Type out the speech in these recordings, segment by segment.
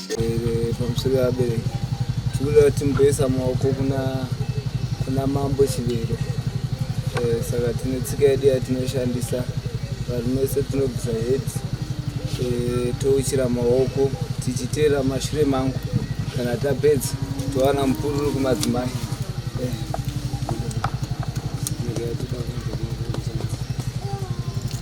Eh, pamusoro yevabereki tikuda kuti mboisa maoko kuna kuna mambo chivero eh, saka tine tsika yedu yatinoshandisa varume vese tinobvisa head eh, touchira maoko tichiteera mashure mangu kana tapedza towana mupururu kumadzimai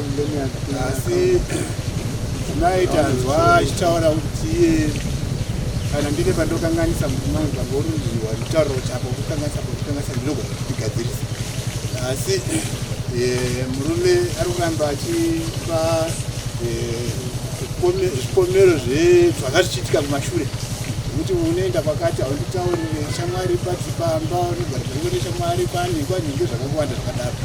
asi mai tanzwa achitaura kuti iye kana ndine pandokanganisa mutumai pangoruziwa nditauriro chako kukanganisa kukanganisa ndinogona kutigadzirisa asi eh, murume ari kuramba achipa eh, zvikomero zvazvanga zvichiitika kumashure kuti unoenda kwakati haunditaurire shamwari pati pamba unogara zvekuti shamwari kwane kwanenge zvakawanda zvakadaro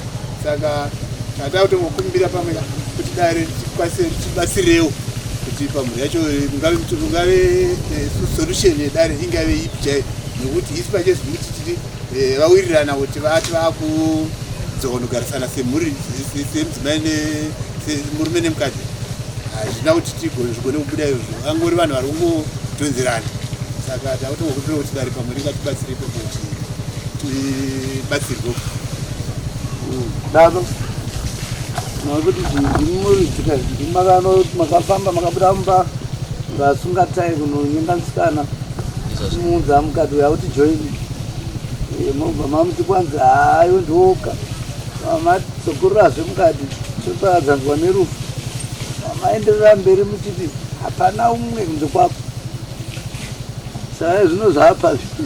saka tata kutongokumbira pamwe kuti dare tikwanise tibatsirewo kuti pamhuri yacho mungave mungave eh, solution yedare ingave ipi chaiyo nokuti isu pachezvi kuti tiri eh, vawirirana kuti vati vakuzogonogarisana semhuri semudzimai murume nemukadzi hazvina kuti tigozvigone kubuda izvo angori vanhu vari kungotonzerana saka takutongokumbira kuti dare pamwe ringatibatsirepo kuti batsirwo daro nokuti zvinhu zvimuridzika zvinhu makafamba makabuda mumba ngasungatai kunonyenga musikana muunza mukati uya kuti joini mobva mamuti kwanzi hayo ndioka matsokururazve mukati toparadzanzwa nerufu maenderera mberi muchiti hapana umwe kunze kwako saa zvino zvaapa zvi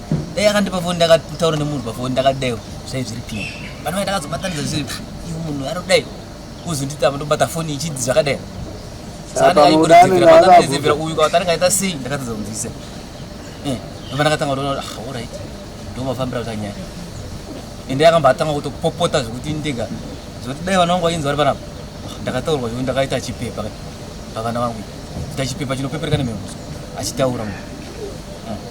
dai akandipa foni ndakataura nemunhu pafoni ndakadaiwo zvai zviri pii vanhu vai ndakazobatanidza zviri iwe munhu anodai kuzonditi apa ndobata foni ichidzi zvakadai saaaaikurezevera uyu kwatanenge aita sei ndakatadza kunzwisa eh, ava ndakatanga kutoona kuti ah, orit ndomafambira kuta nyaya ende akambatanga kutopopota zvekuti ndega zvekuti dai vana vangu vainzi vari panapa ndakataurwa zvekuti ndakaita chipepa pavana vangu ita chipepa chinopepereka nemhemuso achitaura munhu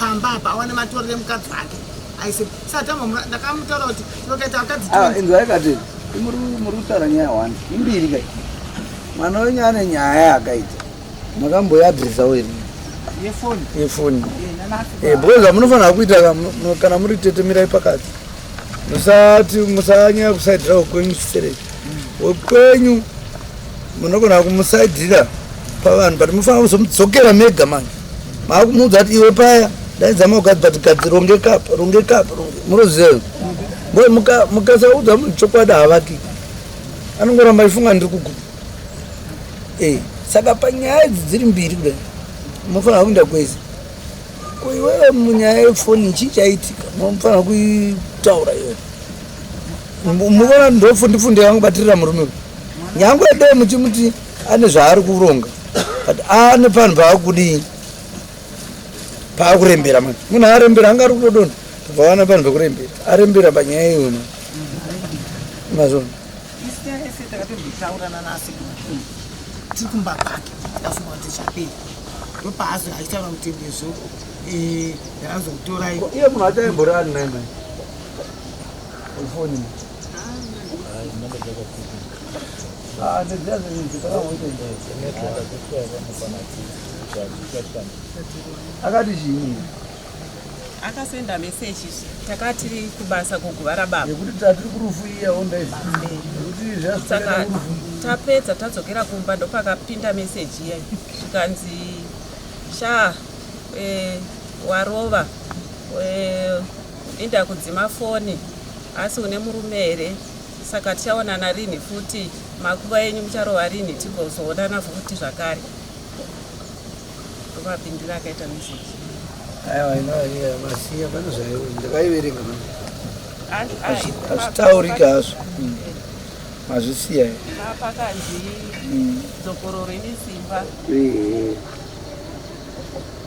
pamba apa awane matorere mukadzi wake aise satama ndakamutaura kuti tokaita vakadzinzwa ikati ah, muri kutaura nyaya one imbiri kai mwana wenyu ane nyaya yakaita makamboiadresawo iri yefoni yefoni eh, because zvamunofanira kuita kana muri tetemirai pakati musati musanyaya kusaidirawo kwenyu chisereki wekwenyu mm. munogona kumusaidhira pavanhu but mufanira kuzomudzokera mega manje maakumuudza kuti iwe paya ndaidza maukadzi but gadzi rongekapa rongekapa munoziva ngoe mukasaudza munhu chokwadi havaki anongoramba ifunga ndiri kuguta e saka panyaya idzi dziri mbiri kudai munofanira kuenda kwese ko iwewe munyaya yefoni chii chaitika munofanira kuitaura iwe muvona ndofundifunde yangu batirira murume uyu nyangwe dai muchimuti ane zvaari kuronga but ane panhu paakudii paakurembera mani munhu arembera anga ari kutodona tobvawana panhu pekurembera arembera panyaya iyo mani mazvona tiri kumba kwake afunga kuti chapei ndopaazo aitaura kuti ndezvo eh, ndarazokutorai iye munhu achaimborani naimai foni akati chii akasenda message takati kubasa kuguva rababa yekuti tatiri kurufu iya ondaizvisaka tapedza tadzokera kumba ndopakapinda message iya zvikanzi sha e, warova e, Inda kudzima foni asi une murume here saka tichaonana rinhi futi makuva enyu mucharova rinhi tigozoonana futi zvakare ndovapindira akaita message aiwa inoaiya masiya pane zvaiwo ndakaiverenga hazvitaurika hazvo hmm. mazvisiya pakanzi hmm. dzokororo ine simba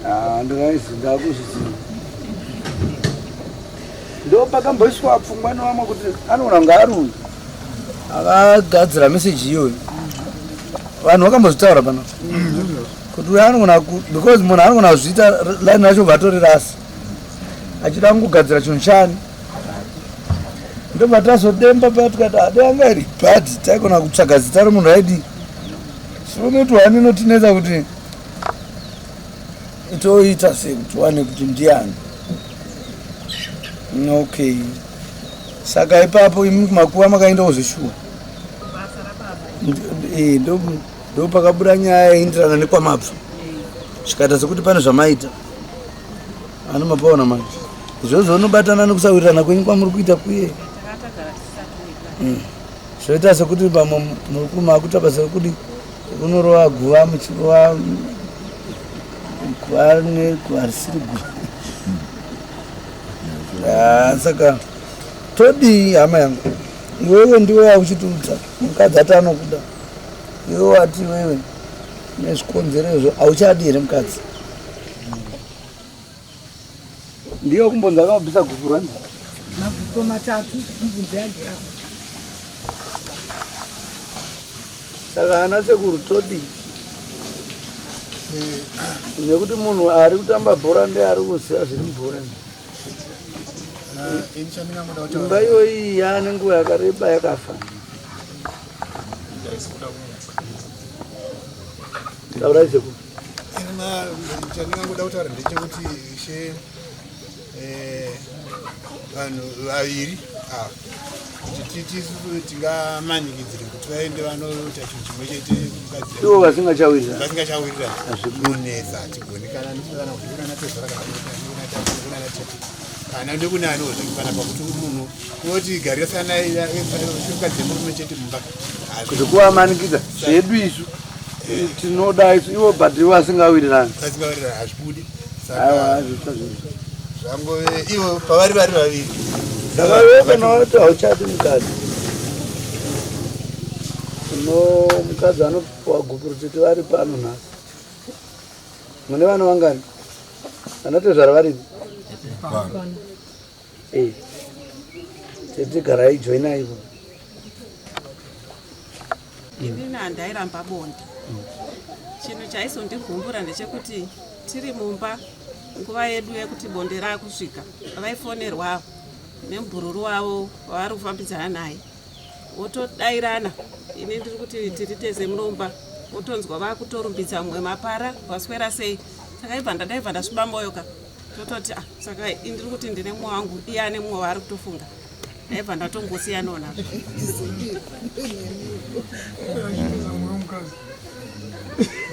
Ah, ndakaizi ndakuzviziva ndopakamboiswa pfungwa nevamwe kuti anoona kunge ari uyu akagadzira meseji iyoyo vanhu vakambozvitaura pano kuti uyo anogona ku- because munhu anogona kuzviita r- line racho bva atori rasi achida kungogadzira chinhu chani ndobva tazodemba paya tikati ade anga iri bad taigona kutsvaga zita remunhu aidi sinoitwa ani inotinetsa kuti toita sekuti wane kuti ndiani okay saka ipapo imi kumakuva makaenda kuzvishuwa eh, ndo pakabuda nyaya yaindirana nekwamabva zvikaita sekuti pane zvamaita ano mapaona manje izvozvo unobatana nekusawirirana kwenyu kwamuri kuita kuye hmm. zvoita sekuti pamwe muri kumakuta basa rekuti Unorova guva muchirova guva neguva risiri guva. Ah, saka todii hama yangu iwewe ndiwe wauchitiudza mukadzi ati anokuda iwe wati iwewe nezvikonzero izvo hauchadi here mukadzi Ndiyo kumbonza akabvisa guku rani. Maguko matatu mubvunzo yake apa. Saka ana sekuru todi nekuti munhu ari kutamba bhora ndiye ari kuziva zviri mubhora imba iyoyi yaane nguva yakareba yakafa taurayi sekuru chandingangoda kutaura ndechekuti ishe eh, vanhu vaviri ava kuti tisu tingamanikidzire kuti vaende vanoita chinhu chimwe chete ivo vasingachawiriravasingachawirira azvikunetsa hatigoni kana ndikana kuona tezvara kanaana tete kana ndikune anozvikana pakuti munhu unoti garisana mukadzi murume chete mumba kuti kuvamanikidza zvedu isu tinoda ivo but ivo asingawirirani asingawirirani hazvibudi zvangove ivo pavari vari vaviri ndakaokanawati hauchati mukadzi no mukadzi anopiwa gupuro tete vari pano nhasi mune vana vangani vanotezvara varipi eh. tete garai joinaivo Ini handairamba bonde. Chinhu chaisondigumbura ndechekuti tiri mumba nguva yedu yekuti bonde rakusvika vaifonerwa nembururu wavo wavari kufambidzana naye votodairana ini ndiri kuti tiri tese munomba votonzwa vakutorumbidza mumwe mapara vaswera sei saka ibva ndadaibva ndasviba moyo ka tototi ah, saka indiri kuti ndine mumwe wangu iye ane mumwe waari kutofunga Eva ndatongosiyanawo na.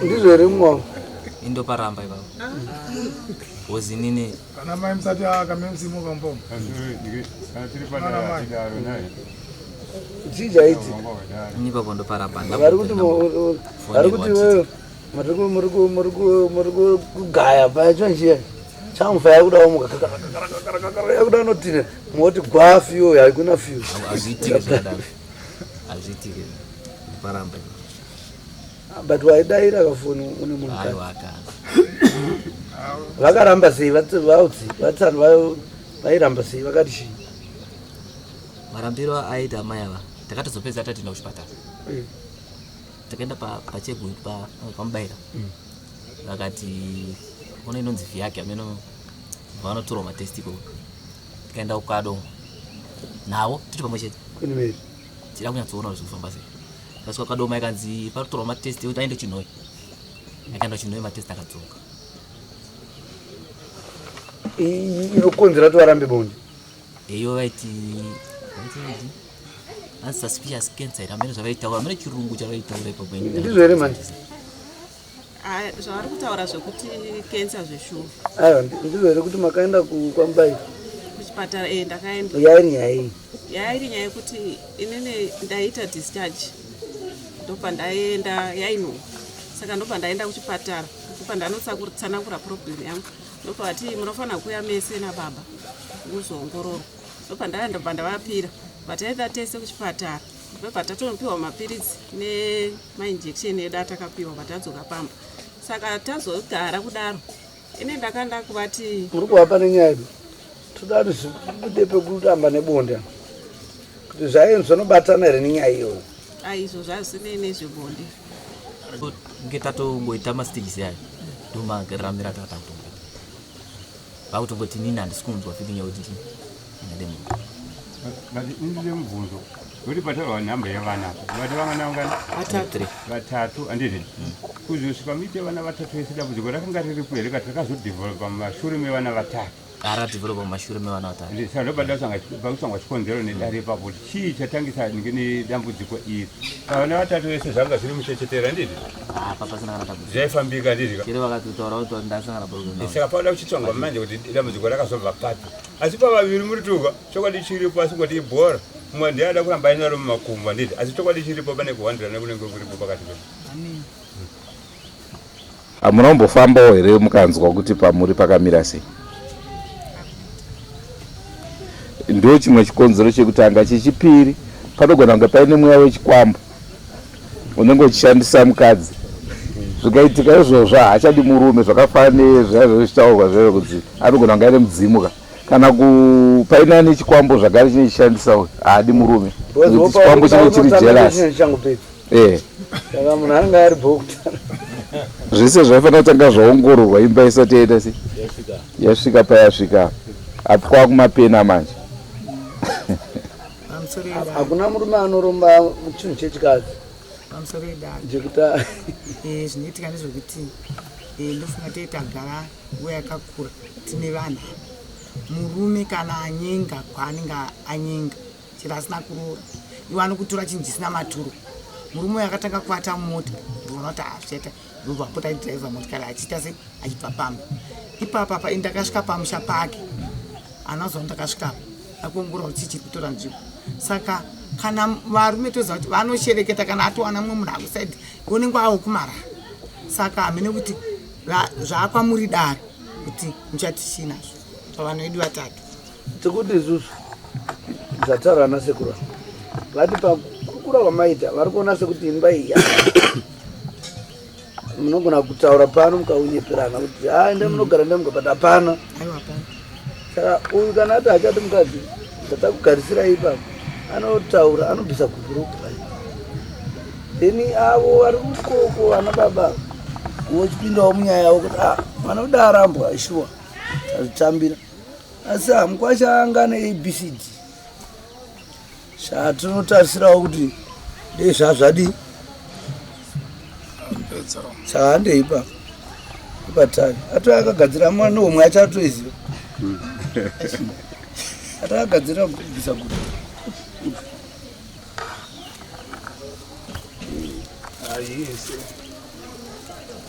Ndizvo here mwangu? Indo paramba ipapa. Wozi nini? Kana mai msati akamemsimuka mbomo. Kana tiri padara atidaro naye. Jija iti. Nipa kondo paramba. Vari kuti vari kuti wewe muri kugaya paya chino chiya chamufa yakuda wamuka yakuda anotine moti gwa fiyo haikuna fiyo but waidaira kafoni une munhu vakaramba sei vautsi vatsani vairamba sei vakati chii marambiro aita amai ava takatozopedza tatienda kuchipatara eh. takaenda pacheguru pamubaira mm. vakati ona inonzi vhi yake ameno vanotorwa matest ikoko tikaenda kukado navo tiri pamwe chete tida kunyatsoona kuti zvekufamba sei tasvika kukadoma ikanzi patotorwa matest ekuti aende chinhoi akaenda chinhoi matest akadzoka inokonzera kuti varambe bonde Eyo vaiti unsuspicious cancer hamene zvavaitaura hamene chirungu chavaitaura ipo kwenyu ndizvo here manje zvavari kutaura zvekuti cancer zveshuwa aiwa ndizvo here kuti makaenda kwambai kuchipatara e ndakaenda yairi nyaya iyi yairi nyaya yekuti inini ndaiita discharge ndopa ndaenda yaino saka ndopa ndaenda kuchipatara ndopa ndanotsanangura problem yangu ndobva vati munofanira kuuya mese nababa muzoongororwa ndobva ndaya ndobva ndavapira vataenda tese kuchipatara ndobva tatonopiwa mapiritsi nemainjection edu atakapiwa vatadzoka pamba saka tazogara kudaro ine ndakanda kuvati muri kuvapa nenyaya yedu toda tibude pekutamba nebonde kuti zvayo zvinobatana here nenyaya iyoyo aizvo zvazinei nezvebonde nge tatongoita mastages ayo ndomaramira tatakutonga vakutongoti nini handisi kunzwa feeling yakuti ndini ndingademuka but indile mubvunzo kuti pataura nhamba yevana vati vanganavatatu andizvi kuzosvika muite vana vatatu vese dambudziko rakanga riripo here kati rakazodevelopa mumashure mevana vatatu gara tivhurwa mumashure mevana vatatu ndisanoba ndakusangwa chikonzero nedare ipapo kuti chii chatangisa ndinge nedambudziko iri pavana vatatu vese zvanga zviri muchechetera ndizvi apa pasina kana dambudziko zvaifambika ndizvi chero vakatotaura kuti ndasangana problem saka pavada kuchitsvangwa manje kuti dambudziko rakazobva papi asi pavaviri muri tuka chokwadi chiripo asi kuti ibhora mumwe ndiye ada kuramba ainaro mumakumbo handiti asi chokwadi chiripo pane kuhwandirana kunenge kuripo pakati pedu Hamunombofambawo here mukanzwa kuti pamuri pakamira sei? Ndo chimwe chikonzero chekutanga. Chechipiri, panogona kunge paine mweya wechikwambo unenge uchishandisa mukadzi. Zvikaitika izvozvo haachadi murume zvakafanana nezvaive zvichitaurwa zvaive kunzi anogona kunge aine mudzimu ka kana ku- paine ane chikwambo zvagare chine chishandisa uyu haadi murume. Nekuti Chikwambo chinenge chiri jealous. eh saka munhu anenge ari bhokutara zvese zvaifanira kutanga zvaongororwa imba isati yaita se yasvika payasvika apo kwava kumapena manje hakuna murume anoromba chinhu chechikadzi pamusoro edaro jekuti eh, zvinoitika ndezvekuti eh, ndofunga tei tagara nguva yakakura tine vanhu murume kana anyenga kwaanenge anyenga chero asina kuroora iwe anokutora chinhu chisina maturo murume uyo akatanga kuvata mumota ndiona kuti haasveta ndobva apota aidriver motikari achiita se achibva pamba ipapa pa ndakasvika pamusha pake anazoa ndakasvikapo akuongorora kuti chiri kutora nzvimbo saka kana varume toziva kuti vanoshereketa kana atowana mumwe munhu akusaidi unenge awo kumara saka hamene kuti zvaakwa muri daro kuti muchati chii nazvo pavanoidi vatatu Tikuti isusu zvataura ana sekuru vati pakukura kwamaita vari kuona sekuti imba iyi munogona kutaura pano mukaunyeperana kuti ha enda munogara ndamuka but hapana saka uyu kana ati achati mukadzi zvatakugarisira ipapo anotaura anobvisa kubhuruku then avo vari kukoko ana baba vochipindawo munyaya yavo kuti ah, mwana uda arambwa shuwa azvitambira asi hamukwasha anga neabcd zvatinotarisirawo kuti dei zvazvadii saka handei ipapo ipatavi ato akagadzira mwana omwe achatoiziva atakagadzira kubvisa guta ah,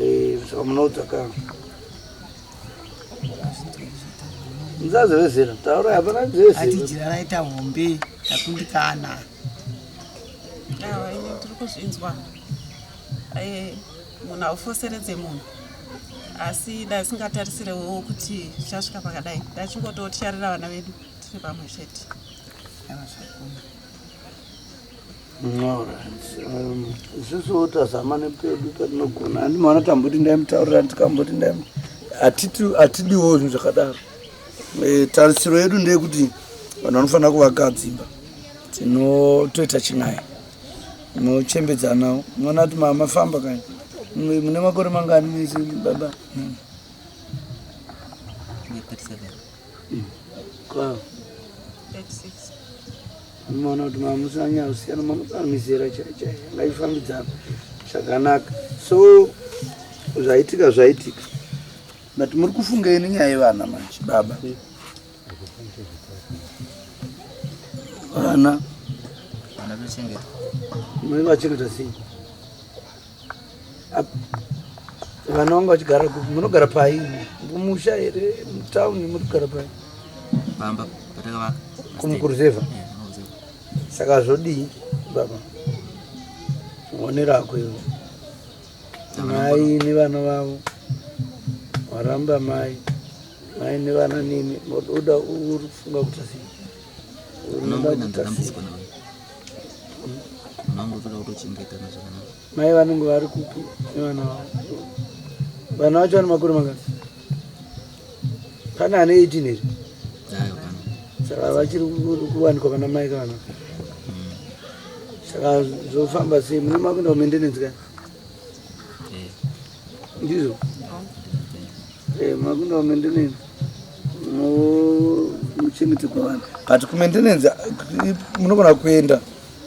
Eh, saka munoudza ka muzazi vezera taura hapana dzezeraaita hombe takundikana tiri kuzvinzwa eh, munhu haufoseredze munhu asi dai singatarisirewo kuti chasvika pakadai ndachingototyarira vana vedu tiri pamwe chete Um, isusu tazama nepedu patinogona handi mwana tamboti ndaimutaurira ndikamboti ndaim hatidiwo zvinhu zvakadaro e, tarisiro yedu ndeyekuti vanhu vanofanira kuvaka dzimba tinotoita chinai mochembedzanawo mwana ati mama famba kani mune makore mangani mese baba hmm. mona kuti mamusanya kusiyana mamukaa mizera chaichai ngaifambidzana zvakanaka so zvaitika zvaitika but muri kufunga ini nyaya yevana manje baba vana vachengeta sei Vana vanga vachigara kupi? Munogara pai? Kumusha here? Mutown munogara pai? Pamba patakavaka. Kumukuruzeva. Eh, Saka zvodii baba? One rako ivo. Mai nevana vavo. Waramba mai. Mai nevana nini. Uda uri kufunga kuti sei? Unoda kuti sei? Mai vanenge vari kupi nevana vavo? Vana vacho vane makore mangani? Pane ane 18 here? Saka vachiri kuwanikwa pana mai kana saka zvofamba sei mune makuenda kumendenenzi kani ndizvo Eh, makuenda kumaintenance muchengeterwa vanhu but kumaintenance munogona kuenda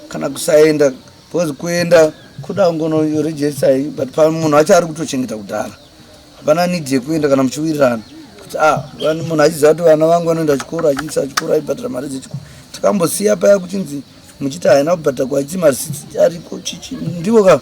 kana kusaenda because kuenda kuda kungono yoregista iyi but pamunhu acho ari kutochengeta kudhara hapana nidi yekuenda kana muchiwirirana kuti a ah, munhu achiziva kuti vana vangu vanoenda chikoro achiisa chikoro aibhadhara mari dzechikoro tikambosiya paya kuchinzi muchiti haina kubhadhara kwaiti marisiti ariko chichi ndivo kava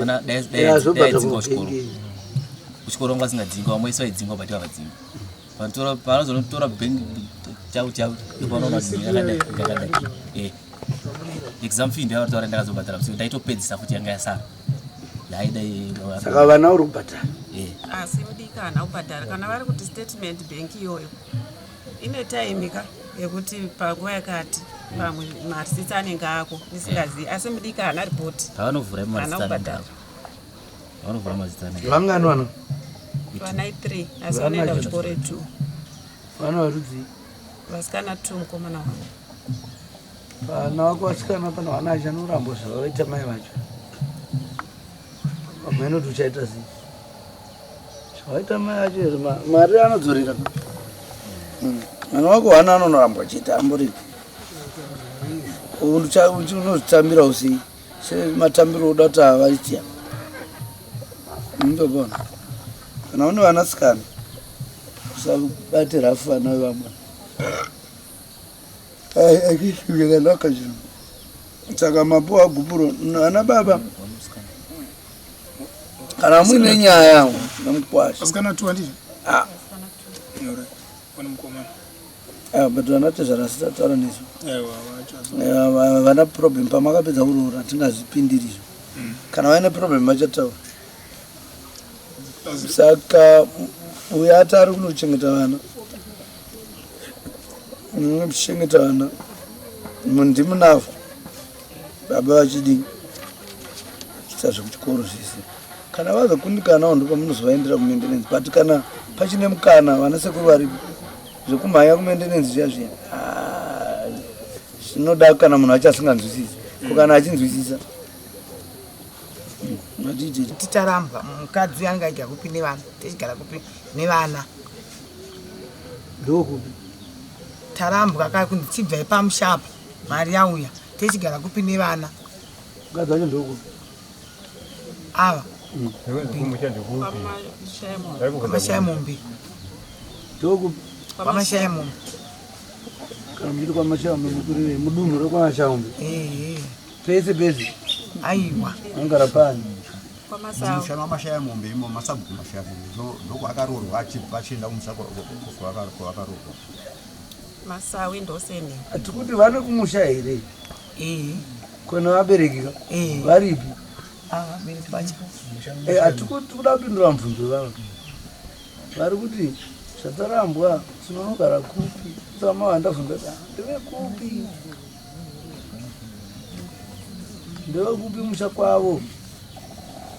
ona dai dai dzingwa kuchikoro kuchikoro ngo asingadzingwa vamwe isi vaidzingwa but havadzingwa panotora panozonotora bank chau chau ipanoona kuti ndakadai ndakadai eh exam fee ndiyo vataura ndakazobhadhara kusi ndaitopedzisa futi yanga yasara yaidai saka vana uri kubhadhara eh asi udikana ubhadhara kana vari kuti statement bank iyoyo ine time ka yekuti panguva yakati pamwe marsits anenge ako ndisingazivi asi mudiki haana ripoti anovhuraanobhadhara vangani vana vana three asi vanoenda kuchikoro two vana varudzii vasikana two mukomana wavo vana vako vasikana pana vana acho anorambwa zvavavaita mai vacho vamwe anoti uchaita zii Waita mai acho here mari anodzorera hmm. mwana wako hana anonorambwa achiita amboripi unozvitambira usei sematambiro oda kuti avaitya ndobona kana une vanasikana usabate rafu vana vevamwe achiuyakanaka chino saka mapuwa gupuro ana baba kana muine nyaya yangu nemukwasha asikana two handizvo ah. ah, but vana tezvara sitataura nezvo eh, vana problem pamakapedza kuroora hatingazvipindiri izvo mm. kana vaine problem vachataura saka uyo ati ari kunochengeta vana muchengeta vana ndimunavo Baba vachidi kuita zvekuchikoro zvese kana vazokundikanawo ndipo munozovaendera kumendenenzi but kana pachine mukana vana sekuru varipo zvekumhanya kumendenenzi zviya zviya ah, zvinoda kana munhu acho asinganzwisisi ko kana achinzwisisa ticharambwa mukadzi angaita kupi nevana tichigara kupi nevana ndokupi tarambwa ka kunzi chibvai pamushapa mari yauya techigara kupi nevana ava amashaya mombe kwamashaya mombe kana muchiti kwamashaya mombe mukurire mudunhu rekwamashaya mombe pese pese aiwa angara pani musha wamashaya mombe imo masabhuku mashaya mombe ndokwaakarorwa achienda kumusha kwavakarorwa Masawi ndoseni. Atikuti vane kumusha here? Eh. Kona vabereki ka? Eh. Varipi? Ah, vabereki vacho. Eh, atikuti kuda kupindura mubvunzo vavo. Vari kuti zvatarambwa tinonogara kupi? Tsama vandavhunza ta. Ndeve kupi? Ndeve kupi musha kwavo?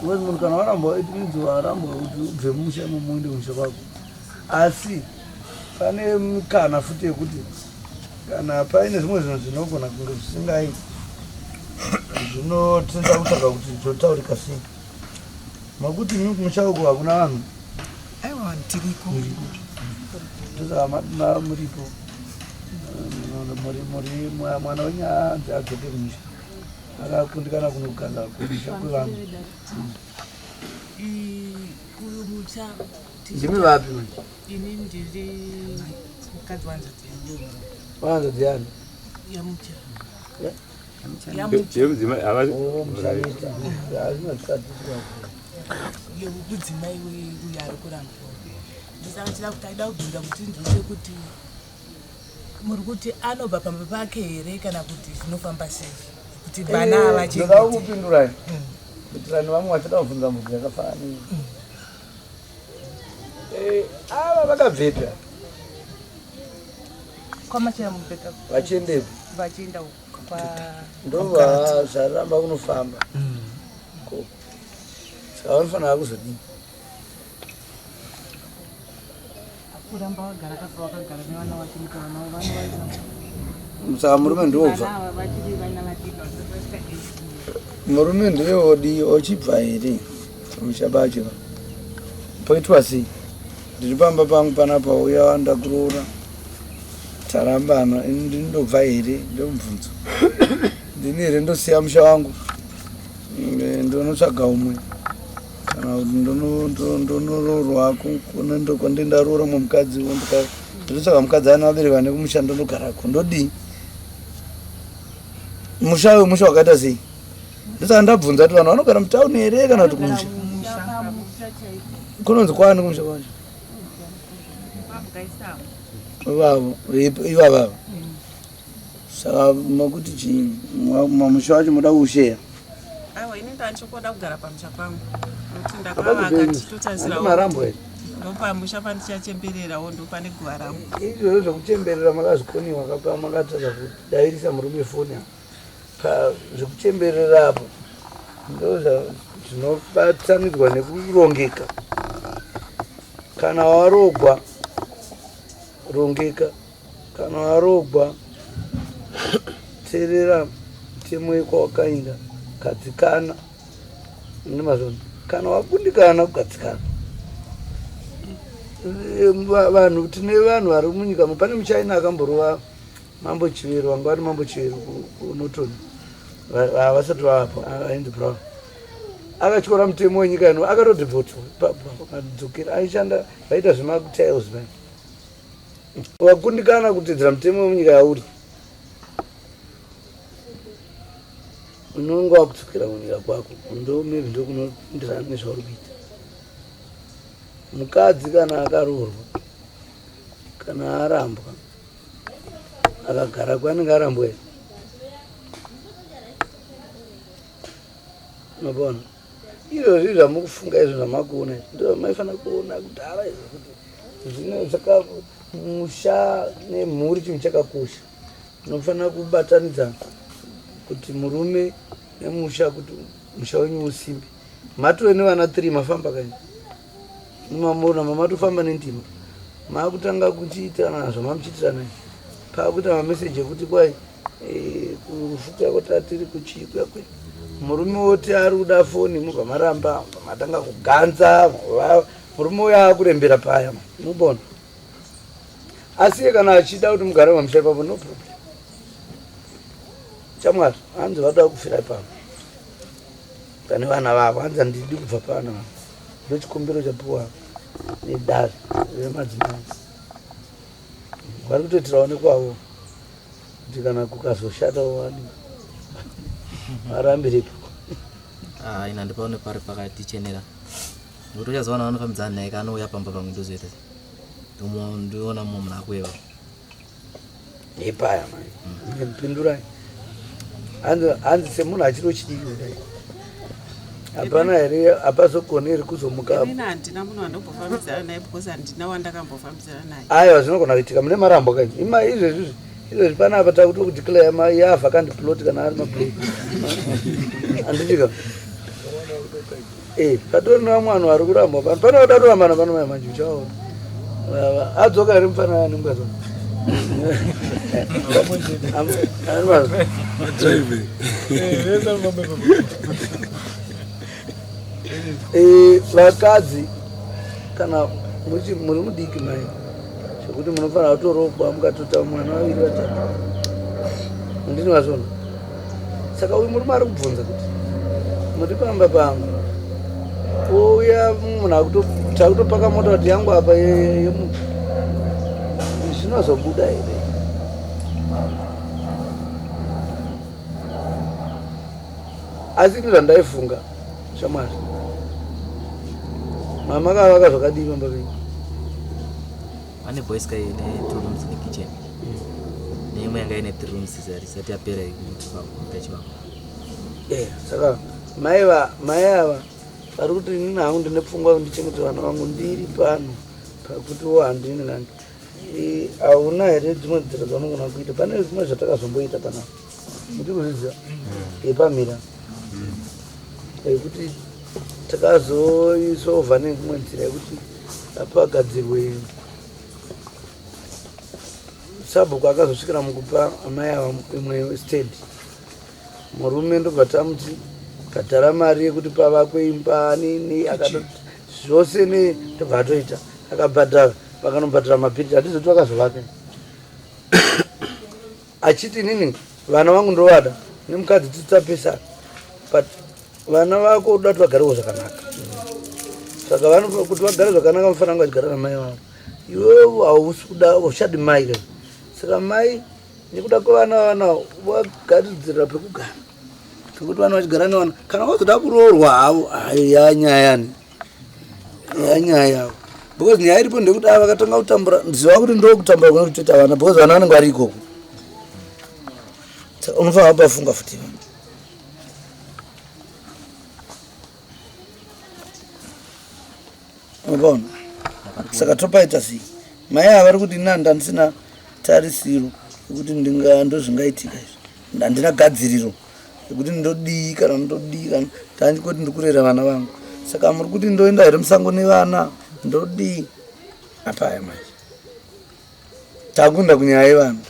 Ngozi munhu kana warambwa it means warambwa kuti ubve musha imomo uende musha kwako. Asi Pane mukana futi yekuti kana paine zvimwe zvinhu zvinogona kunge zvisingai zvinotinda kutsvaga kuti zvotaurika sei makuti mi kumusha uko hakuna vanhu aiwa tiriko ndozaa muripo muri mwana wenyu anzi adzoke kumusha akakundikana kunogara kumusha kwevanhu kumusha Ndimi vapi manje? Ini ndiri mukadzi wanzvadzi yangu. Wanzvadzi yangu? Yamucha. Yeah. Yemudzimai havasi. Oh, Yemudzimai uyo ari kuramba. Ndisaka chida kuti aida kubvunza kuti ndizve kuti muri kuti anobva pamba pake here kana kuti zvinofamba sei kuti vana eh, avachekupindurai hmm. kuitirani vamwe vachada kubvunza mubvu yakafanira hmm. Eh, ava vakabvepi ava? kwamachera mubheka Vachiendepi? vachienda uko kwa Ndova zvaramba kunofamba. Ko. Saka vanofanira kuzodini? kuramba wagara kaka wakagara nevana vake muka vana vana vana saka murume ndiwobva murume ndeyodi ochibva here muchabachira poitwa sei ndiri pamba pangu panapa uya wanda kuroora tarambana ndinobva here ndomubvunzo ndini here ndosiya musha wangu ndonotsvaga umwe kana kuti ndonoroorwa kuna ndokwandee ndaroora mwe mukadzi wo ndinotsvaka mukadzi ana vabereka ne kumusha ndondogarako ndodii musha uyo musha wakaita sei ndosaka ndabvunza kuti vanhu vanogara mutauni here kana kuti kumusha kunonzi kwani kumusha kwacho ivavo ivavavo Saka makuti chii mamusha wacho moda kusheya? Aiwa ini ndanchokoda kugara pamusha pangu nokuti ndakavaka ndichitotarisirawo marambo here ndopamusha pandichachembererawo ndopane guva rangu izvozvo zvekuchemberera makazvikoniwa kaka makatadza kudairisa murume foni apo pazvekuchemberera apo ndozvinobatanidzwa nekurongeka kana warogwa rongeka Kana warogwa terera mutemo wekwa wakainda gadzikana nemazvono kana wakundikana kugadzikana vanhu tine vanhu vari munyika pane muchina akamborova mambo chivero vanga vari mambo chivero kunoton vasati vavapo aindi brown akatyora mutemo wenyika ino akatodhibhotwa padzokera aishanda vaita zvematiles vani wakundikana kuteedzera mutemo wemunyika yauri unonge wakudzokera kunyika kwako ndo maybe ndokunopindirana nezvauri kuita mukadzi kana akaroorwa kana arambwa akagara kwanenge arambwa here unopona izvozvi zvamukufunga izvo zvamakuona izvi ndo zvamaifanira kuona kudhara izvo kuti zvino zvaka musha nemhuri chinhu chakakosha unofanira kubatanidza kuti murume nemusha kuti musha wenyu usimbe matove nevana three mafamba kani mumamona mamatofamba nendima makutanga kuchiitirana zvamamuchiitirana pakuita mameseji ekuti kwai Eh, kufuta kuti atiri kuchikwa kwe murume woti ari kuda foni mubva maramba matanga kuganza murume uyo akurembera paya mubona asiye kana achida kuti mugare mamusha ipapo no problem chamwari hanzi vatoda kufira ipapo pane vana vavo hanzi handidi kubva pano ndocikumbiro chapiwa nedare remadzimai vari kutoitirawo nekwavo kuti kana kukazoshata wani arambiripo ah, ina ndipaone pari pakatichenera nokuti uchazoona vanofambidzana naye kaanouya pamba pamwe ndozoita ndiona mumwe munhu akueva ipaya mani ndipindurai hanzi semunhu achiri uchidii kudai hapana here hapazokoneri kuzomuka ini handina munhu wandombofambidzana naye because handina wandakambofambidzana naye aiwa zvinogona kuitika mune marambo ka ima izvezvizvi izvezvi pana apa takuti kudeclare ma ya vacant plot kana ari maplot handitika eh patori nevamwe vanhu vari kurambwa pano panoda kutorambana pano mai manje uchaona adzoka ari mupfana wani mukazwa eh, vakadzi kana muri mudiki mai zvekuti munofanira kutorogwa mukatota mwana vaviri vatatu ndini vazvona saka uyu murume ari kubvunza kuti muti pamba pangu ouya munhu takutopaka mota kuti yangu apa yemunhu zvinozobuda here asi ini zvandaifunga shamwari mama kavaka zvakadii pamba penyu Pane boys kai ne two rooms in the kitchen. Mm. Neimwe yanga ine three rooms zari sati yapera ikuti pa mutachi wangu. Eh, saka mai va mai ava vari kuti inini hangu ndine pfungwa kuti ndichengete vana vangu ndiri pano pakuti wo handini nani. Eh, hauna here dzimwe nzira dzaunogona kuita pane zvimwe zvatakazomboita panapa. mutikuzviziva yepamira yekuti takazoisova neimwe nzira yekuti apagadzirwe sabhuku akazosvikira mukupa amai ava imwe stand murume ndobva tamuti kadhara mari yekuti pavakwe imba nini akatoti zvose ne tobva atoita akabhadhara vakanobhadhara mabhiriti hatizoti vakazovaka achiti inini vana vangu ndovada nemukadzi titapesana but vana vako uda kuti vagarewo zvakanaka saka vano kuti vagare zvakanaka mufana anga achigara namai vavo iwevo hausi kuda uchadi mai ka saka mai nekuda kwevana vana vagaridzira pekugara pekuti vana vachigara nevana kana vazoda kuroorwa havo ayo yanyayani nyaya yavo because nyaya iripo ndekuti ava vakatanga kutambura ndiziva kuti ndo kutambura kuna kutoita vana because vana vanenge vari ikoko unofanira pafunga futi unopaona saka topaita sei mai ava vari kuti ina ndandisina tarisiro yekuti ndozvingaitika izvi handina gadziriro kuti ndodii kana ndodii kana tandi kuti ndikurera vana vangu saka muri kuti ndoenda here musango nevana ndodii apaya manje takunda kunyaya yevanhu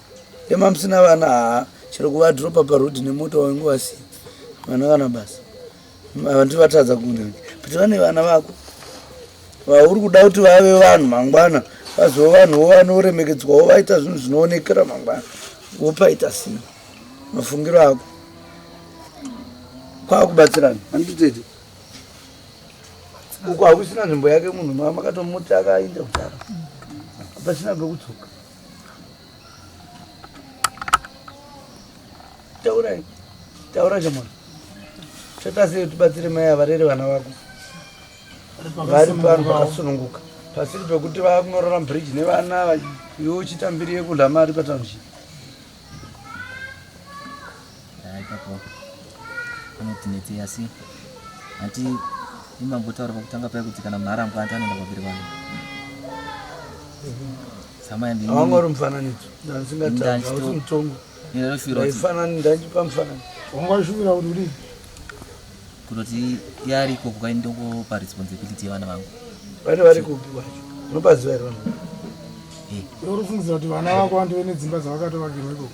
emamusina vana haa chero kuvadropa parodi nemoto wainge wasiya vana kana basa vantu vatadza kuda kuti vane vana vako vauri kuda kuti vave vanhu mangwana vazova vanhuwo vanoremekedzwawo vaita zvinhu zvinoonekera mangwana wopaita sei mafungiro ako kwakubatsirana anditete uko hakusina nzvimbo yake munhu makatomuti akainda kutara pasina pekudzoka Taurai. Taura chamwana. Chata sei tibatsire mai avarere vana vako. Vari pano vakasununguka. Pasiri pekuti vakunorora bridge nevana iwe uchitambirire kudla mari patownship. ipapo anoti netse asi hati imambotaura pakutanga paya kuti kana mharambwa anti anoenda kwaviri vanhu samaiangori mufananidzo ndandisingataausi mutongo ndaifanani ndandipa mufanani wangazvivira kuti uri kutoti yariko kukai ndokupa responsibility yevana vangu vane vari kupi kwacho unopaziva here vanhu uri kufungidzira kuti vana vako vandive nedzimba dzavakatovakirwa ikoko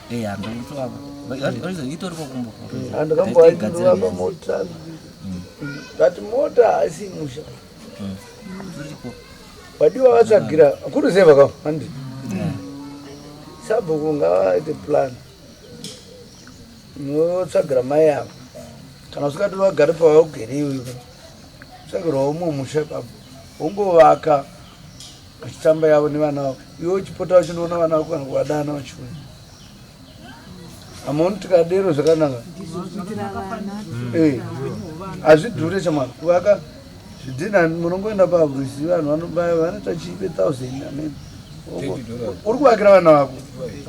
Eh, andikamboaitwa pamota but mota haisi musha vadiwa hmm. vatsvagira kuri sei vaka handi hmm. sabhuku ngavaite plan notsvagira mai avo kana usikati vagare pavaugere iwe tsvagirwa umwe musha papo ungovaka vachitamba yavo nevana vavo iwe uchipota vachinoona vana vako kana kuvadana vachiuya amaoni tikadero zvakanaka hazvidhure eh, chamwana kuvaka zvidhina munongoenda pabrisi vanhu vanobaya vanoita chipe thousand amen uri kuvakira vana vako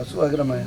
asi kuvakira maya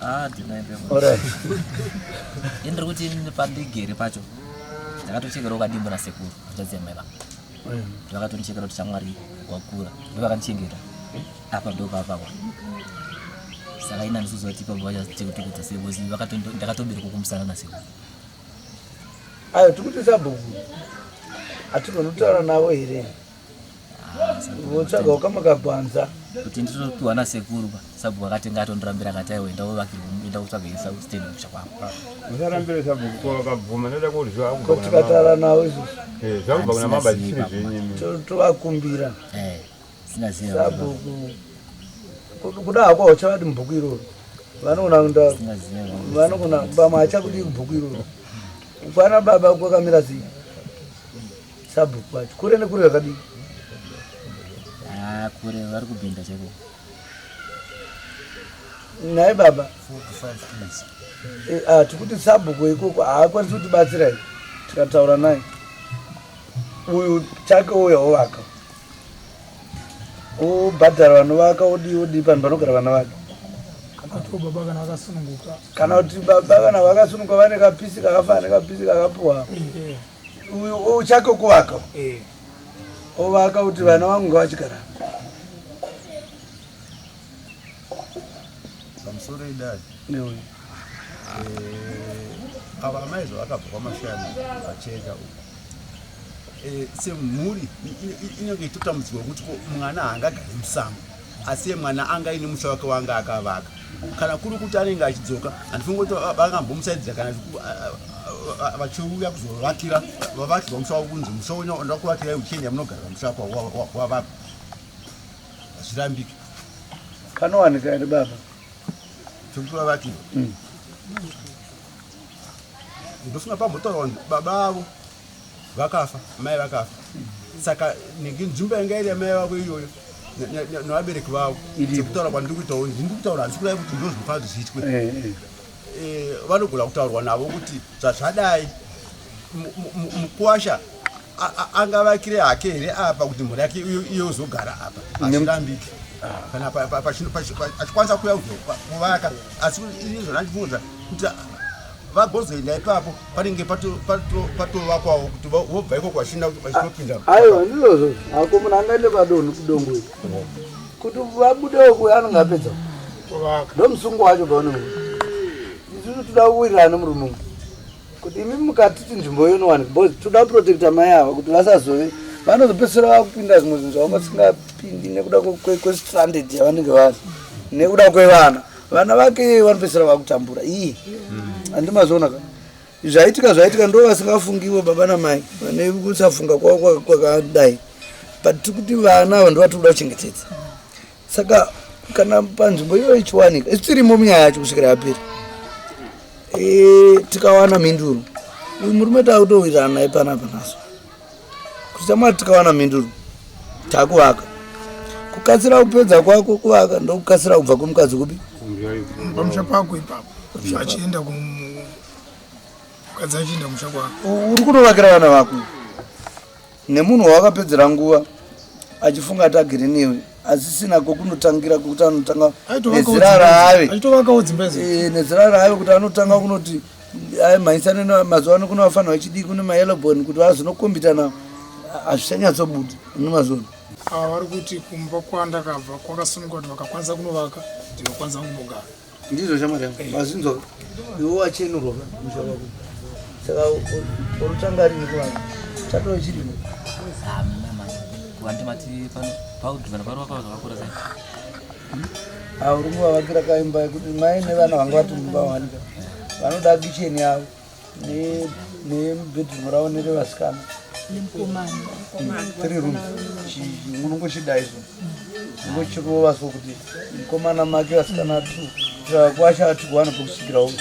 Ah, indiri kuti pandigere pacho ndakatochekerwa ukadimbo nasekuru zvadzemeba vakatonichekera kuti chamwari wakura ndovakanichengeta apa ndopapakwa saka ina ndisuzi vatipa vachatiutukudza sei bcoz ndakatobereka kumusana nasekuru ayo tikuti sabhuku hatigoni kutaura navo here votsvaga ukamakagwanza kuti nditopiwa nasekuru pa sabhuku akatenga atondirambira akati aiwa enda uvakirwa enda kutsvaga isa stand kusha kwako usarambire sabhuku ko vakabvuma ndoda kuti zvakubva kuna tikatara nawo izvo eh zvakubva kuna mama zvisiri zvenyimi tovakumbira eh sina zero sabhuku kuda hako uchavati mubhuku iroro vanoona nda vanogona bama achakudii kubhuku iroro kwana baba kwakamira zii Sabhuku wacho kure nekure yakadii? Ah, kure vari kubhinda cheko. Nhai baba. 4 to 5 minutes. Eh, ah, tikuti sabhuku ikoko haakwanisi kutibatsira here tikataura naye uyu chake uya ovaka obhadhara vanovaka odii odii panhu panogara vana vake kana kuti baba kana vakasununguka vane kapisi kakafana nekapisi kakapuwa eh, eh. uchake kuvaka eh. ovaka kuti vana vangu ngavachigara pamusoro idadi neuyu eh, ava amai zvavakabva kwamashani vacheka uku eh, semhuri inenge itotambudzwa kuti mwana haangagari musango asiye mwana anga aine musha wake waanga akavaka kana kuri kuti anenge achidzoka handifungi kuti vangambomusaidzira kana vachiuya kuzovakira vavakirwa musha wavo kunzi musha wenyu ndakuvakirai uchienda munogarira musha wako wavaka hazvirambiki panowanika here baba zvekuti vavakirwa hmm. ndofunga pambotaura baba avo vakafa mai vakafa saka nenge nzvimbo yanga iri yamai vavo iyoyo nevabereki vavo sekutaura kwandiri kuitawo ndiri kutaura handisi kudai kuti ndozvinofa zvichiitwe eh, eh. eh, vanogona kutaurwa navo kuti zvazvadai mukwasha angavakire hake here apa kuti mhuri yake iyozogara apa achirambike kana achikwanisa kuya kuvaka asi izvona ndibvunza kuti vagozoenda ipapo panenge patovakwawo kuti vobva iko kwashinda kuti vachitopinda ah, aiwa ndizvozvo hako munhu angaende padonhu kudongo iri kuti vabudewo kuya anenge apedza ndomusungo wacho paunenge isusu toda kuwirirana nemurume umu kuti imi mukatiti nzvimbo iyo inowani bcause toda kuprotecta mai ava kuti vasazove vanozopedzisira vakupinda zvimwe zvinhu zvavanga singapindi nekuda kwestranded yavanenge vari nekuda kwevana vana vake vanopedzisira vakutambura iyi andimazviona ka zvaitika zvaitika ndo vasingafungiwo baba namai vane kusafunga kwavo kwakadai but tiri kuti vana ava ndovati kuda kuchengetedza saka kana panzvimbo iyoyo ichiwanika isu tirimo munyaya yacho kusvikira yapera e, tikawana mhinduro uyu murume taakutowirirana naye panapa naso Kutya Mwari tikawana mhinduro takuvaka. Kukatsira kupedza kwako kuvaka ndokukatsira kubva kumukadzi kupi? Pamusha pako ipapo. Achienda kumukadzi achienda kumusha kwako. Uri kunovakira vana vako nemunhu wawakapedzera nguva achifunga ati agere newe. asisina kokunotangira kuti anotanga nezira raave eh, nezira raave kuti anotanga kunoti ayi mhaisane mazuva ano kuno vafanira vachidii kune mayelobon kuti vazinokombitana hazvichanyatsobuda nemazvono ava vari kuti kumba kwandakabva kwakasununguka kuti vakakwanisa kunovaka ndinokwanisa kunogara Ndizvo shamwari yangu. Vazinzwa. Iwo wacheno roba musha wako. Saka orutanga rini kuvanhu. Chatove chiri. Vantu mati pano paudhi vanhu pano vakawa zvakakura sei. Aurungu vavakira kaimba yekuti mai nevana vanga vati mumba wanika. Vanoda kicheni yavo. nebedroom ravo nerevasikana three room unongochida izvo ungochirova so kuti mukomana make vasikana two kwacha ati kuwana pokusvikirawo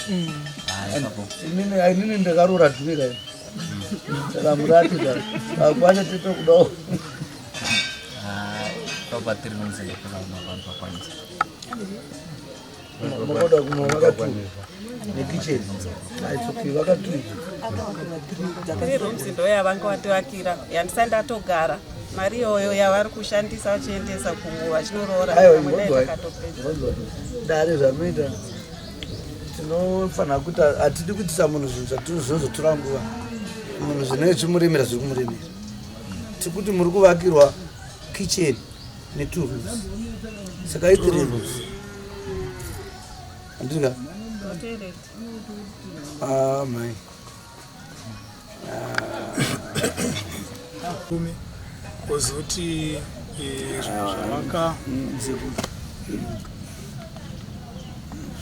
inini ndakaroora dhuri kayo ndakamurati ka kwacha tete kudawo ah, Makoda kumwe vakatu nekicheni aitsoki vakatu rooms ndo yavanga vatovakira yandisa ndatogara mari iyoyo yavari kushandisa vachiendesa kunguva vachinoroora dare zvanoita tinofanira kuti hatidi kuitisa munhu zvinhu zvatinozotora nguva munhu zvinenge zvimurimira zviri kumurimira tikuti muri kuvakirwa kicheni ne two roofs saka i three roofs andika ah my kumi kozoti eh, zvavaka mm,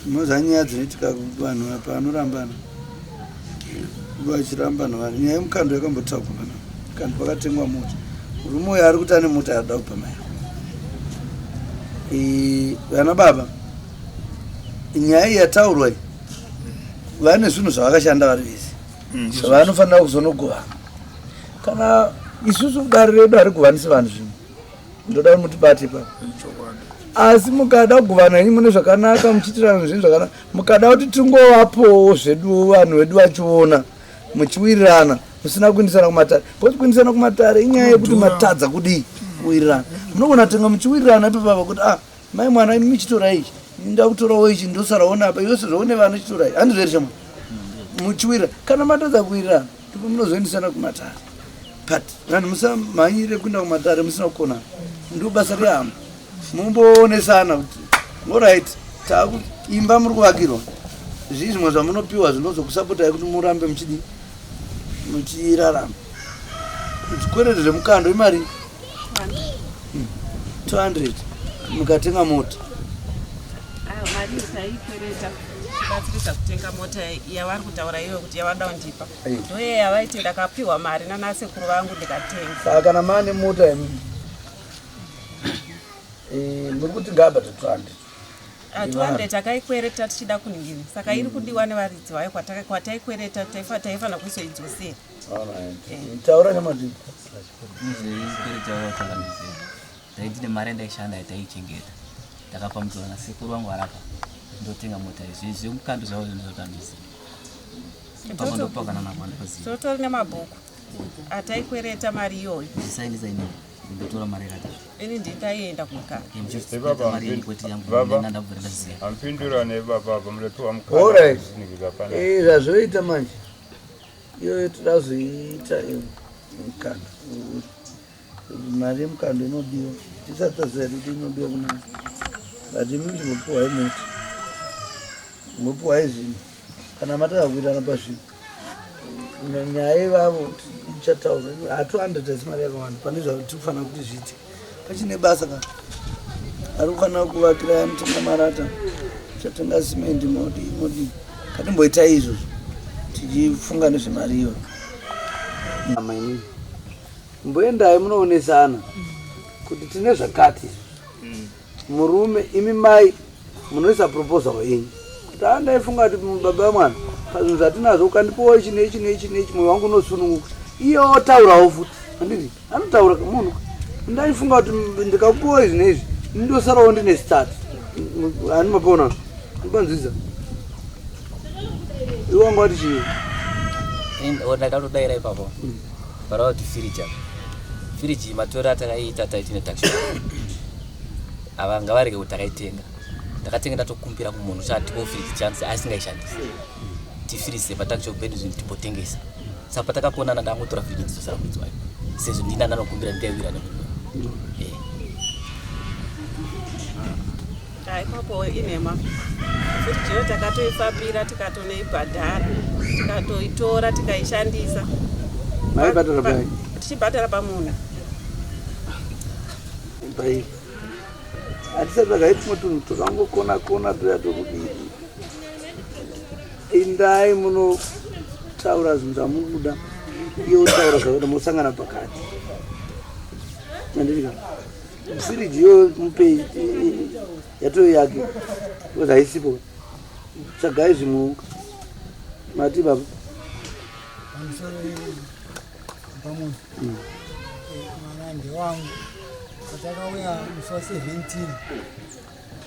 Moza nyaya dzinoitika vanhu apa anorambana vachirambana vanhu nyaya yemukando yakambotaurwa pana kandi pakatengwa mota murume uyo ari kuti ane mota yaada kupa mai vana baba nyaya iyi yataurwa iyi vane zvinhu zvavakashanda vari vese mm, zvavanofanira kuzonogovana kana isusu dare redu harigovanisi vanhu zvinhu ndoda kuti mutibate ipapo asi mukada kuguvana ini mune zvakanaka muchiitirana zvinhu zvakanaka mukada kuti tingovapowo zvedu vanhu vedu vachiona muchiwirirana musina kuindisana kumatare bcause kuindisana kumatare inyaya yekuti matadza kudii kuwirirana munogona tenga muchiwirirana ipapapa kuti ah mai mwana imi michitora ichi ndakutorawo ichi ndosaraona apa iwe sezvaune vana chitorai handizvo here chama muchiwira kana matadza kuwirirana ndipo munozoendesana kumatare but vanhu musamhanyire kuenda kumatare musina kukona ndiro basa rehama mumboonesana kuti orit takuimba muri kuvakirwa zvii zvimwe zvamunopiwa zvinozokusapotai kuti murambe muchidi muchirarama zvikwereti zvemukando imari 200 hmm. mukatenga mota batsirisa kutenga mota yavari kutaura iwe kuti yavada kundipa ndoye yavaiti ndakapiwa mari nanasekuru vangu ndikatenga saka kana mane mota yemi eh, muri kuti ngabata 200 200 takaikwereta tichida kuningini saka iri kudiwa nevaridzi vayo kwataikwereta taifanira kuisoidzosera eh. taura nemadii ndaiti nemari yandaishanda yataichengeta ndakapambidzwa nasekuru vangu varapa ndotenga mota izvi izvi mukambi zvavo zvinhu zvakandizi pamandopakanana kwandoziva totori nemabhuku ataikwereta mari iyoyo isaindisaina ndotora mari yakati ini nditaienda kukaapindura nebababa muratiwa mukaizvi zvazvoita manje iyoyo toda kuzoiita mukana Mari yemukando inodiwa tisati taziva kuti inodiwa kuna but imi ndinopiwai moti mopiwai zvinhu kana mataka kuitana pazvinhu nyaya ivavo ichataura hatuandadhaisi mari yakawanda pane zvatiri kufanira kuti zviite pachine basa ka ari kufanira kuvakira anotenga marata chatenga simendi modi modi katimboita izvozvo tichifunga nezvemari iyoyo Mboendai munoonesana kuti tine zvakati mm. murume imi mai munoisa proposal yenyu kuti haa ndaifunga kuti baba vemwana pazvinhu zvatinazvo ukandipowa ichi neichi neichi neichi mwoyo wangu unosununguka iye otaurawo futi anditi anotaura munhu ndaifunga kuti ndikakupowa izvi neizvi ndosarawo ndine start ani mapona ndipanzwiza iwanga wati chii ndakatodaira ipapo mm. Bara kuti firiji apa. Firiji iyi matoro atakaita taiti netakisha. Ava ngavarege kuti takaitenga. Ndakatenge ndatokumbira kumunhu kuti atipo firiji chance asingaishandisi. Tifirise patakisha pedu zvinhu tipotengesa. Saka patakakonana ndangotora firiji ndizosara kuidzwa. Sezvo ndina ndanokumbira ndikaiwira nemunhu. Ikoko inhema futi chero takatoifambira tikatonoibhadhara tikatoitora tikaishandisa maibhadhara pai tichibhadhara pamunhu pai hatisati takaitimo tunhu twakangokona kona tuya twekudii indai munotaura zvinhu zvamukuda iyo utaura zvakuda mosangana pakati mandiri kana Spirit yo mupei yatove yake because haisipo. Tsvagai zvimwe mati baba. Pamunhu. Mm. Mwana ndewangu. Patakauya musi wa 17.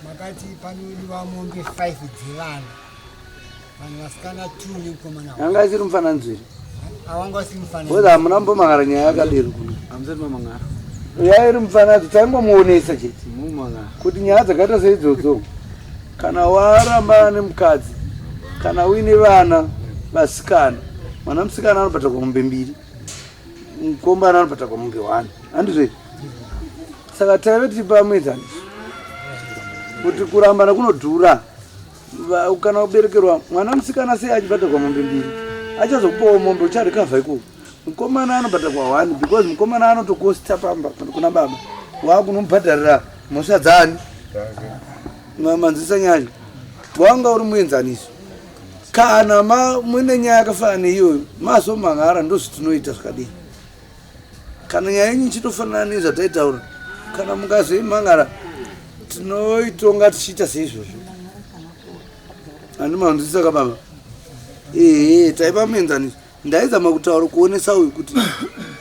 makati panodiwa mombe 5 dzevana vanhu vasikana 2 nemukomana anga isiri mufana nzviri awanga usiri mufana whether hamuna mbomangara nyaya yakadero kuno hamusati mamangara nyaya iri mufana adzo taingomuonesa chete mumangara kuti nyaya dzakaita seidzodzo kana warambana nemukadzi kana uine vana vasikana mwana musikana anobata kwamombe mbiri mukombana anobata kwamombe one handizvei saka taive tiri pamuenzaniso kuti kurambana kunodhura kana uberekerwa mwana musikana sei achibhadharwa mombe mbiri achazokupawo mombe ucharikavha ikoko mukomana anobhadharwa one because mukomana anotokosta pamba kuna baba waakunomubhadharira mhosva dzaani manzwisa nyaya wanga uri muenzaniso kana mune nyaya yakafanana neiyoyo mazomhan'ara ndozvitinoita zvakadini kana nyaya yenyu ichitofanana nezvataitaura kana mukazoimhangara tinoitonga tichiita seizvozvo handimanzwisisa kababa ehe taiva muenzaniso ndaizama kutaura kuonesa uyu kuti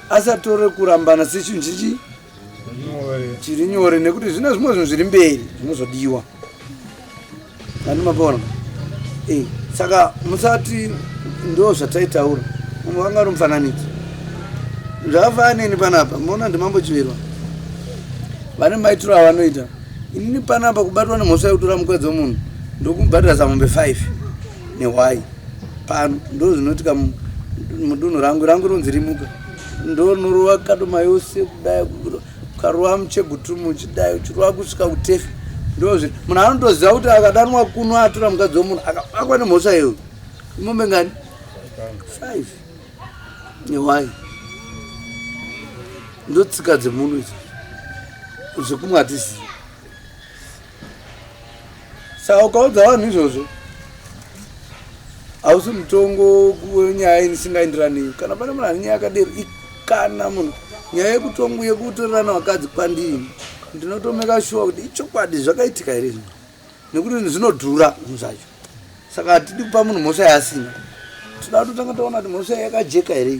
asatore kurambana sechinhu chichi chiri nyore nekuti zvine zvimwe zvinhu zviri mberi zvinozodiwa vani mabona eh, saka musati ndo zvataitaura mumwe vanga ri mufananidzo zvakafanini panapa muona ndimambo chivirwa vane maitiro avanoita inini panapa kubatwa nemhosva yekutora mukwedzo munhu ndokumubhadhira zamombe five nehwai pano ndo zvinoitika mudunhu rangu rangu rinonzi rimuka ndonorova kadoma yose kudai ukarova muchegutumu uchidai uchirova kusvika kutefi ndozvi munhu anotoziva kuti akadanwa kuno atora mukadzi wemunhu akabatwa nemhosva yeyo imombe ngani five newai ndotsika dzemunhu idzo zvekumwe hatizii Saka ukaudza vanhu izvozvo hausi mutongo nyaya inisingaenderani kana pane munhu ane nyaya yakaderi kana munhu nyaya yekutongo yekutorerana vakadzi kwandini ndinotomeka shuwa kuti ichokwadi zvakaitika here zvino nekuti zvinodhura zvinhu zvacho saka hatidi kupa munhu mhosva yaasina tinoda kutotanga taona kuti mhosva yakajeka here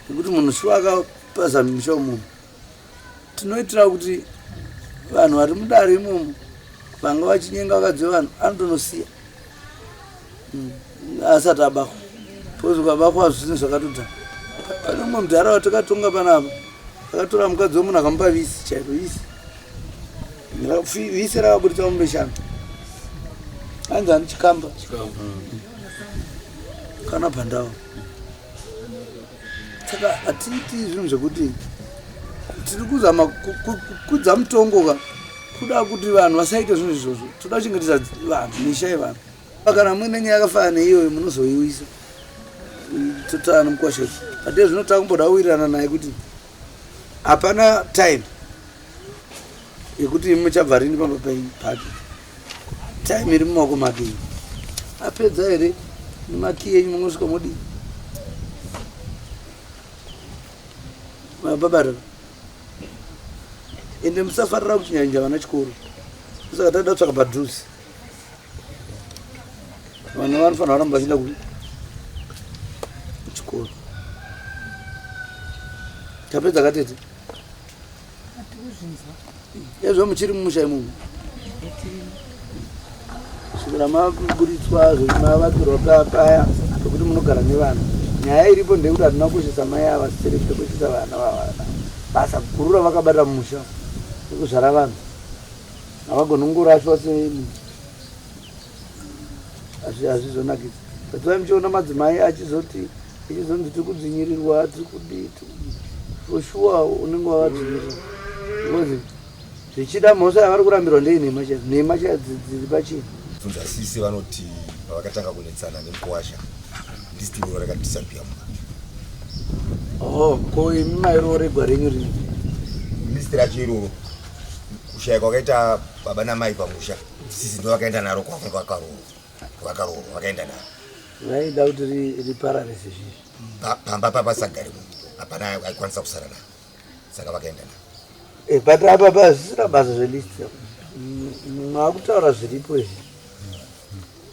nekuti munhu shuwa akapazamisha munhu tinoitira kuti vanhu vari mudare imomo vanga vachinyenga vakadzi vevanhu anotonosiya hmm, asati abahwa bcause ukabahwa zvinhu zvakatodhara pane umwe mudhara watakatonga panapa akatora mukadzi wemunhu akamupa visi chaiko visi visi rakaburitsa mumbeshana anzi ani chikamba kana pandava saka hatiiti zvinhu zvekuti tiri kuzama kukudza mutongo ka kuda kuti vanhu vasaite zvinhu izvozvo toda kuchengetedza vanhu misha yevanhu kana muine nyaya yakafana neiyoyo munozoiwisa totaa nomukwasha izvi ate zvino takumboda kuwirirana naye kuti hapana time yekuti muchabva rini pamba penyu pake time iri mumaoko make iyi apedza here nemakiyi enyu munosvika modii mababarira ende musafarira kuchinyanyija vana chikoro musaka taida kutsvaka padhuzi vana vanofanira kuramba vachienda kuchikoro tapedza katete ezvo muchiri mumusha imomo svikira maburitswa zvemavakirwa paya pekuti munogara nevana nyaya iripo ndeyekuti hatina kukoshesa mai ava sisere kutokoshesa vana vavana basa guru ravakabatira mumusha ekuzvara vanhu havagonongorashwa se hazvizonakidzi patsvai muchiona madzimai achizoti ichizonzi tiri kudzvinyirirwa tiri kudii for sure unenge wavadzvinyirira because zvichida mhosva yavari kurambirwa ndei nhema chaidzo nhema chaidzo dziri pachii bvunza sisi vanoti pavakatanga kunetsana nemukwasha ndisitiro rakadisapia muna oh ko imi mairoro regwa renyu rini ndisitiracho iroro kushaya kwakaita baba namai pamusha sisi ndo vakaenda naro kwavo kwakaroorwa kwakaroorwa vakaenda naro vaida kuti riparare sezvizvi pamba papasagari mu hapana aikwanisa kusara naro saka vakaenda naro eh, but apa pazvisina basa zvelist mwakutaura zviripo izvi